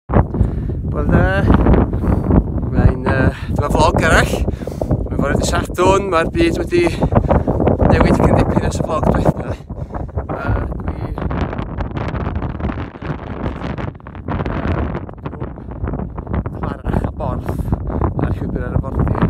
Wel da, mae'n uh, dyma vlog arall. Mae'n fore dy Sadwn, mae'r byd wedi newid cyn dipyn ers y vlog diwetha. A dwi... Clara a Borth ar llwybr ar y bordir.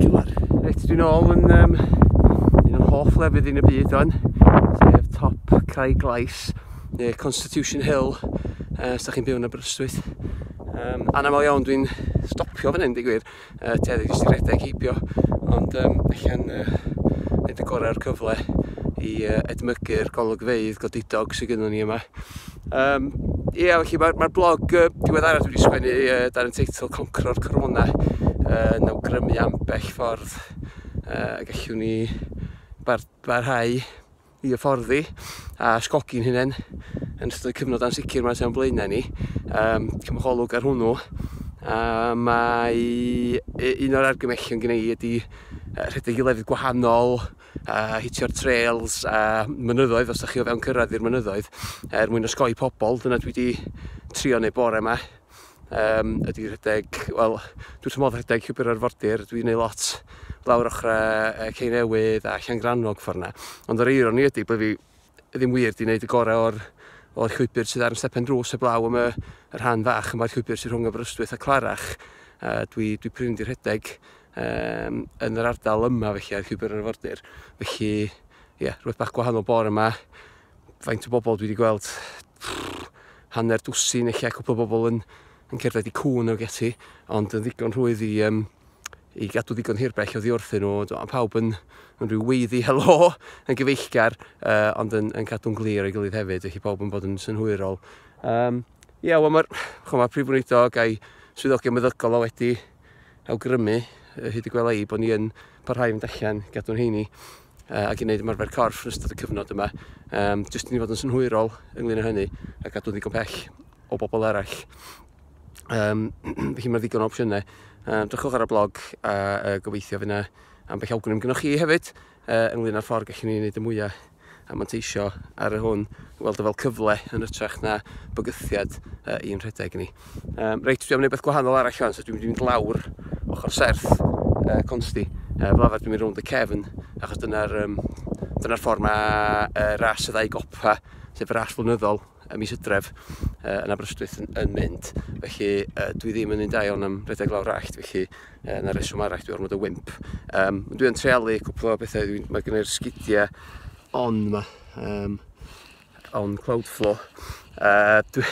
Cymar. Reit, dwi'n ôl yn um, un o'n hoff lefydd yn y byd o'n, sef top Craig Glais, neu Constitution Hill, uh, os da chi'n byw yn Aberystwyth. Um, anamol iawn dwi'n stopio fan hyn, digwydd, uh, ti edrych jyst i redeg heibio, ond um, allan uh, neud y gorau o'r cyfle i uh, edmygu'r golygfeydd godidog sydd gyda ni yma. Um, ie, yeah, felly mae'r mae blog uh, diweddarach dwi wedi sgwennu uh, dan y teitl Concro'r Corona uh, yn awgrymu ambell ffordd uh, gallwn ni bar barhau i hyfforddi a sgogi'n hunain yn ystod y cyfnod ansicr mae'n sy'n blaenau ni. Um, cymholwg ar hwnnw. A mae un o'r argymellion gen i ydy rhedeg i lefydd gwahanol a hitio'r trails a mynyddoedd os da chi o fewn cyrraedd i'r mynyddoedd er mwyn osgoi pobl, dyna dwi wedi trio neu bore yma um, ydy rhedeg, wel dwi'n tymod rhedeg llwybr arfordir, dwi'n ei lot lawr ochrau uh, Ceinewydd a Llangrannog ffordd yna ond yr eironi ydy bod fi ddim wir 'di wneud y gorau o'r, o'r llwybr sydd ar yn stepen drws heblaw am y, y rhan fach yma'r llwybr sydd rhwng Aberystwyth a Clarach. Uh, dwi, dwi prin di rhedeg um, yn yr ardal yma felly ar llwybr yr arfordir. Felly, ie, yeah, rhywbeth bach gwahanol bore yma. Faint o bobl dwi wedi gweld pff, hanner dwsin eich cwpl o bobl yn, yn cerdded i cwn ag ati, ond yn ddigon rhwydd i, um, i gadw ddigon hirbell o ddiwrthyn nhw. Mae pawb yn, yn rhyw weiddi helo, yn gyfeillgar, uh, ond yn, yn cadw'n glir ei gilydd hefyd, felly pawb yn bod yn synhwyrol. Um, Ie, yeah, wel mae'r ma prif wneudog a'i swyddogion meddygol o wedi awgrymu hyd y gwela i bod ni yn parhau fynd allan, gadw'n heini uh, ac i wneud ymarfer corff yn ystod y cyfnod yma. Um, jyst i ni fod yn synhwyrol ynglyn â hynny a gadw'n ddigon pell o bobl eraill. Um, felly mae ddigon o opsiynau. Um, drychwch ar y blog a uh, gobeithio fyna am beth awgrym gynnwch chi hefyd uh, ynglyn â'r ffordd gallwn ni wneud y mwyaf a manteisio ar y hwn, weld o fel cyfle yn ytrach na bygythiad uh, i'n rhedeg ni. Um, reit, dwi'n mynd beth gwahanol arall o'n, so dwi'n mynd lawr ochr serth uh, consti. Uh, fel arfer dwi'n mynd rownd y cefn, achos dyna'r um, dyna ffordd mae uh, ras y ddau gopa, sef y ras flynyddol, y mis Hydref yy yn Aberystwyth yn yn mynd felly yy dwi ddim yn un da iawn am redeg lawr allt felly yy 'na reswm arall dwi ormod o wimp yym ond dwi yn treialu cwpwl o bethe dwi'n ma' gynnoi'r sgidia on 'ma yym on Cloudflow yy dwi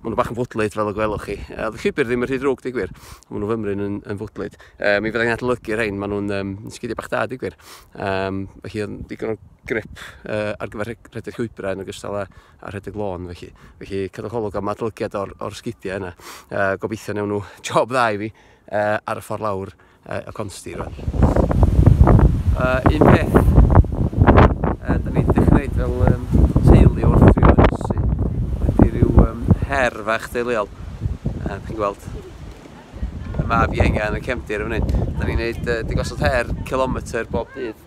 ma' nw bach yn fwdlyd fel y gwelwch chi yy o'dd y llwybyr ddim yn rhy ddrwg deu gwir ma' nw fymryn yn yn fwdlyd yy mi fyddai'n adolygu rhein ma' nw'n yym yn sgidia bach da deu gwir yym felly o'dd yn ddigon o grip ar gyfer rhedeg llwybrau yn ogystal â, â rhedeg lôn felly. Felly cadwch olwg am adolygiad o'r, or sgidiau yna. E, gobeithio newn nhw job dda i fi e, ar y ffordd lawr e, y consti rwan. E, un peth, e, da ni wedi dechrau fel um, teulu wrth fi o'r ynsi. Wedi rhyw um, her fach deuluol. E, chi'n gweld, y maf ienga yn y cefndir yn fan hyn. Da ni'n gwneud e, digosod her kilometr bob dydd.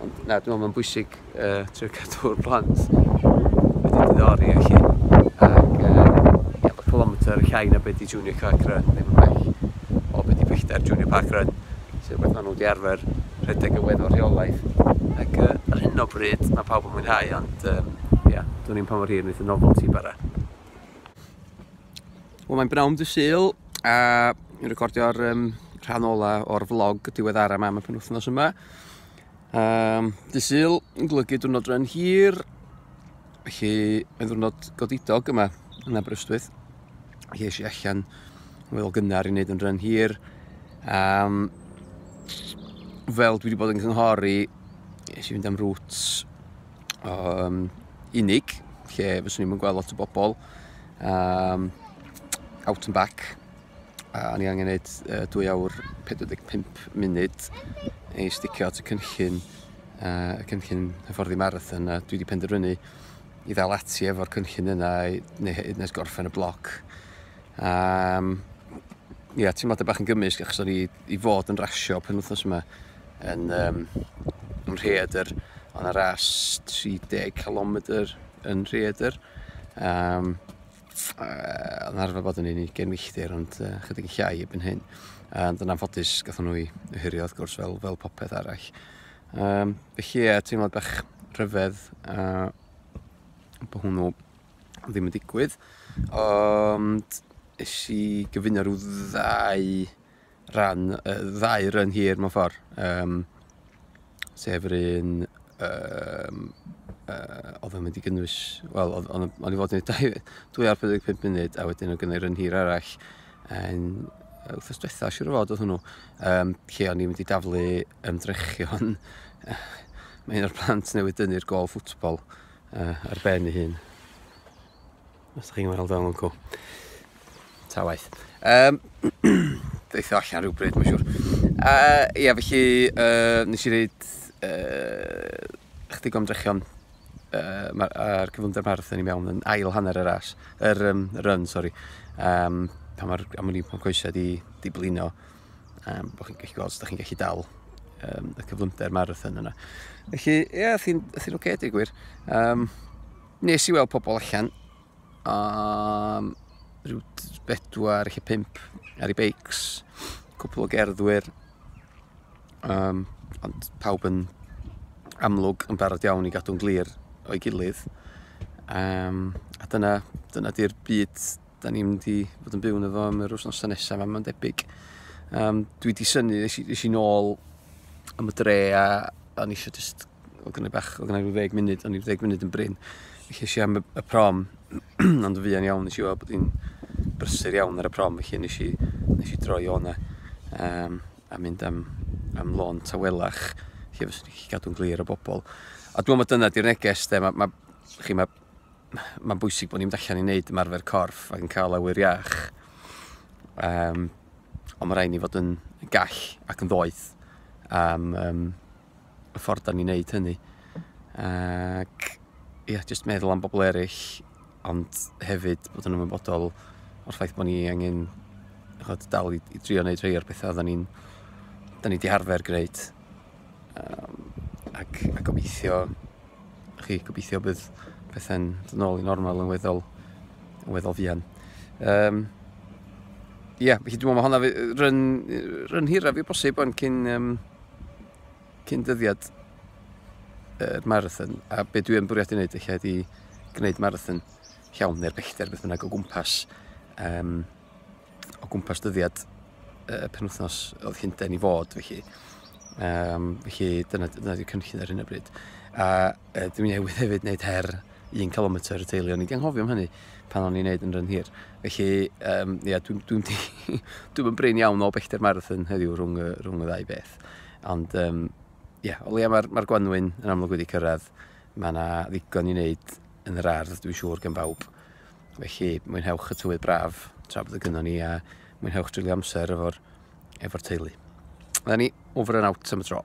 Ond na, dwi'n meddwl mae'n bwysig uh, trio cadw'r plant wedi diddori a chi. Ac, um, ie, yeah, mae kilometr llai na beth i Junior Park Run, ddim yn bell o beth i bellter Junior Park Run, sy'n rhywbeth maen nhw wedi arfer rhedeg yn weddol rheolaeth. Ac uh, ar hyn o bryd, mae pawb yn mwynhau, ond, um, ie, yeah, dwi'n i'n pa mor hir wneud y novelty bara. Wel mae'n bnawn dy syl a ni'n recordio'r um, rhan ola o'r vlog diweddara yma am y penwthnos yma. Um, dy syl yn golygu diwrnod rhan hir, felly mae'n ddiwrnod godidog yma yn Aberystwyth. Felly eisiau allan fel gynnar i wneud yn rhan hir. Um, fel dwi wedi bod yn cynghori, eisiau fynd am rwt um, unig, lle fyswn i'n gweld lot o bobl, um, out and back, a ni angen gwneud uh, 2 awr 45 munud i sticio at y cynllun, uh, y cynllun hyfforddi marathon, a dwi wedi penderfynu i ddal ati efo'r cynllun yna neu hyd nes gorffen y bloc. Um, ia, teimlad y bach yn gymysg achos o'n i i fod yn rasio pen wythnos yma yn um, yn rheedr, ond ar ras 30 km yn rheedr. Um, uh, yn arfer bod yn un i gen milltir, ond uh, chydig yn llai ebyn hyn. Um, dyna ffodus, gatho nhw i hyrio, wrth gwrs, fel, fel popeth arall. Um, felly, e, teimlad bach rhyfedd uh, bod hwnnw ddim yn digwydd. Ond, eisiau gyfuno rhyw ddau rhan y ddau run hir mewn ffordd, um, sef yr un um, uh, oedd yn mynd i gynnwys, wel, o'n i fod yn ei 245 munud a wedyn o'n gynnau run hir arall yn wrthos diwetha, siwr o fod oedd hwnnw, um, lle o'n i'n mynd i daflu ymdrechion. Mae un o'r plant newydd dynnu'r gol ffwtbol uh, ar ben ei hun. Os ydych chi'n weld o'n lwco. Ta waith. Um, Deitho allan rhywbryd, mae'n siŵr. Uh, ia, felly, uh, nes i wneud uh, chdig o ymdrechion uh, ar, ar cyflymder marathon i mewn yn ail hanner yr as, yr um, run, sori. Um, pan mae'r amwni pan coesau di, di blino, um, bod chi'n gallu gweld, ydych chi'n gallu dal um, y cyflymder marathon yna. Felly, ie, yeah, thyn oce, okay, dig gwir. Um, Nes i weld pobl allan am rhyw bedwar lle pump ar ei beics, cwpl o gerddwyr, um, ond pawb yn amlwg yn barod iawn i gadw'n glir o'i gilydd. Um, a dyna, dyna di'r byd da ni'n mynd i fod yn byw yn efo am yr wythnosau nesaf, a mae'n debyg. Um, dwi wedi syni, nes i, nes i nôl am y dre a, a nes i just oedd gynnu bach, oedd gynnu rhyw ddeg munud, o'n i'n ddeg munud yn brin. Felly eisiau am y prom, ond fi yn iawn, nes i weld bod hi'n brysur iawn ar y prom, felly nes i, nes i droi o'na um, a mynd am, am lôn tawelach, lle fyswn i'n cadw'n glir o bobl. A dwi'n meddwl dyna di'r neges, de, mae ma, chi, ma, mae'n bwysig bod ni'n mynd allan i wneud ymarfer corff ac yn cael awyr iach. Um, ond mae rhaid ni fod yn gall ac yn ddoeth am um, y ffordd da ni'n neud hynny. Ac ia, jyst meddwl am bobl eraill, ond hefyd bod yn ymwybodol o'r ffaith bod ni angen chod, dal i, i drio wneud rhai o'r pethau da ni'n da ni di harfer gwneud. Um, ac, a gobeithio, chi, gobeithio bydd pethau'n dod nôl i normal yn weddol, yn weddol fian. Um, Ie, yeah, felly dwi'n meddwl mae hwnna rhan, rhan hiraf i bosib ond cyn, um, cyn dyddiad yr marathon, a be dwi yn bwriadu wneud eich ydi gwneud marathon llawn neu'r bellter beth bynnag o gwmpas um, o gwmpas dyddiad uh, penwthnos oedd Llundain i fod felly. Um, felly dyna, dyna dwi'n cynllun ar hyn o bryd. A uh, dwi'n newydd hefyd wneud her 1 km y teulu, o'n i'n anghofio am hynny pan o'n i'n neud yn rhan hir. Felly, um, ia, dwi'n dwi, dwi, dwi brain iawn o bellter marathon heddiw rhwng, rhwng y ddau beth. cyrraedd. Ond um, yeah, o leia mae'r ma gwanwyn yn amlwg wedi cyrraedd. Mae yna ddigon i wneud yn yr ardd, dwi'n siŵr, gan bawb. Felly, mwynhewch y tywydd braf tra bod y gynno ni a mwynhewch drulio amser efo'r efo teulu. Dyna ni, over and out am y tro.